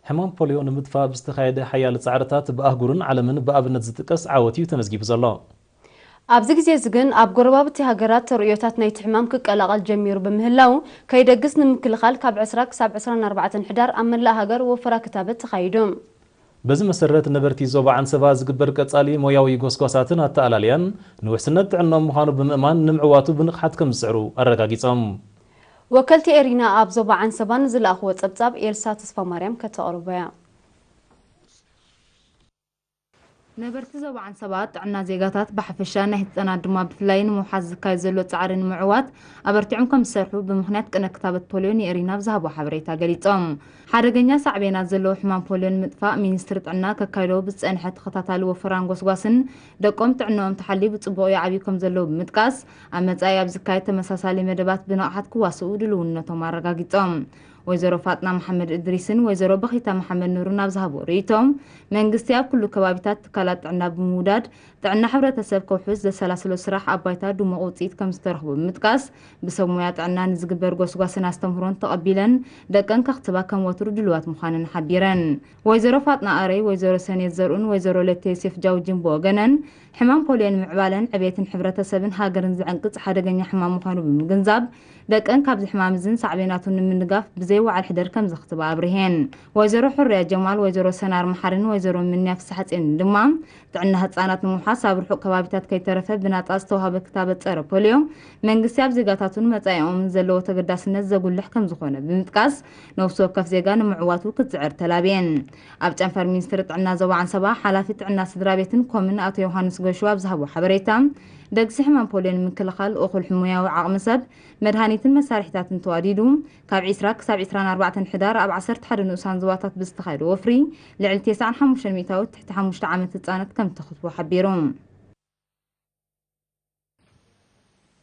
ሕማም ፖልዮ ንምጥፋእ ብዝተኻየደ ሓያል ጻዕርታት ብኣህጉርን ዓለምን ብኣብነት ዝጥቀስ ዓወት እዩ ተመዝጊቡ ዘሎ። ኣብዚ ግዜ እዚ ግን ኣብ ጎረባብቲ ሃገራት ተርእዮታት ናይቲ ሕማም ክቀላቐል ጀሚሩ ብምህላዉ፣ ከይደግስ ንምክልኻል ካብ ዕስራ ክሳብ ዕስራን ኣርባዕተን ሕዳር ኣብ መላእ ሃገር ወፈራ ክታበት ተኻይዱ። በዚ መሰረት ነበርቲ ዞባ ዓንሰባ ዝግበር ቀፃሊ ሞያዊ ጎስጓሳትን ኣተኣላልያን ንውሕስነት ጥዕንኦም ምዃኑ ብምእማን ንምዕዋቱ ብንቕሓት ከምዝፅዕሩ ኣረጋጊፆም። ወከልቲ ኤሪና ኣብ ዞባ ዓንሰባ ንዝለኣኽዎ ፀብፃብ ኤልሳ ተስፋማርያም ከተቕርቦ'ያ። ነበርቲ ዞባ ዓንሰባ ጥዕና ዜጋታት ብሓፈሻ ናይ ህፃናት ድማ ብፍላይ ንምውሓስ ዝካየድ ዘሎ ፃዕሪ ንምዕዋት ኣበርቲዖም ከም ዝሰርሑ ብምኽንያት ቅነ ክታበት ፖልዮ ንኤሪና ኣብ ዝሃቦ ሓበሬታ ገሊፆም። ሓደገኛ ሳዕቤናት ዘለዎ ሕማም ፖልዮ ንምጥፋእ ሚኒስትሪ ጥዕና ከካይዶ ብዝፀንሐ ተኸታታሊ ወፈራን ጎስጓስን ደቆም ጥዕነኦም ተሓልዩ ብፅቡቕ ይዓብዩ ከም ዘለዉ ብምጥቃስ ኣብ መፃኢ ኣብ ዝካየድ ተመሳሳሊ መደባት ብንቕሓት ክዋስኡ ድልውነቶም ኣረጋጊፆም። ወይዘሮ ፋጥና መሓመድ እድሪስን ወይዘሮ በኺታ መሓመድ ኑርን ኣብ ዝሃብዎ ርእይቶ፣ መንግስቲ ኣብ ኩሉ ከባቢታት ትካላት ጥዕና ብምውዳድ ጥዕና ሕብረተሰብ ከውሕስ ዘሰላስሎ ስራሕ ኣብ ባይታ ድሙቕ ውፅኢት ከምዝተረኽቦ ብምጥቃስ፣ ብሰብ ሞያ ጥዕና ንዝግበር ጎስጓስን ኣስተምህሮን ተቐቢለን ደቀን ከኽትባ ከም ወትሩ ድሉዋት ምዃነን ሓቢረን። ወይዘሮ ፋጥና ኣረይ፣ ወይዘሮ ሰኔት ዘርኡን ወይዘሮ ለተ ዮሴፍ ጃውጂን ብወገነን፣ ሕማም ፖልዮ ንምዕባለን ዕቤትን ሕብረተሰብን ሃገርን ዝዕንቅጽ ሓደገኛ ሕማም ምዃኑ ብምግንዛብ፣ ደቀን ካብዚ ሕማም እዝን ሳዕቤናቱን ንምንጋፍ ብዘይ ወዓል ሕደር ከምዘኽትባ ኣብሪሀን። ወይዘሮ ሑርያ ጀማል፣ ወይዘሮ ሰናር መሓሪን ወይዘሮ ምንያ ፍስሓጼንን ድማ፣ ጥዕና ህጻናት ንምውሓስ ኣብ ርሑቕ ከባቢታት ከይተረፈ ብናጻ ዝተዋህበ ክታበት ጸረ ፖልዮ፣ መንግስቲ ኣብ ዜጋታቱን መጻኢኦምን ዘለዎ ተገዳስነት ዘጉልሕ ከምዝኾነ ብምጥቃስ፣ ነብሲ ወከፍ ዜጋ ንምዕዋቱ ክትጽዕር ተላብየን። ኣብ ጨንፈር ሚኒስትሪ ጥዕና ዞባ ዓንሰባ ሓላፊ ጥዕና ስድራቤትን ኮምን ኣቶ ዮሃንስ ጎሹ ኣብ ዝሃቦ ሓበሬታ ደግሲ ሕማም ፖልዮ ንምክልኻል እኹል ሕሙያዊ ዓቕሚ ሰብ መድሃኒትን መሳርሒታትን ተዋዲዱ ካብ 20 ክሳብ 24 ሕዳር ኣብ 11 ንኡሳን ዞባታት ብዝተኻየደ ወፍሪ ልዕሊ 95 ሚእታዊት ትሕቲ 5 ዓመት ህጻናት ከም ተኽትቡ ሓቢሩ።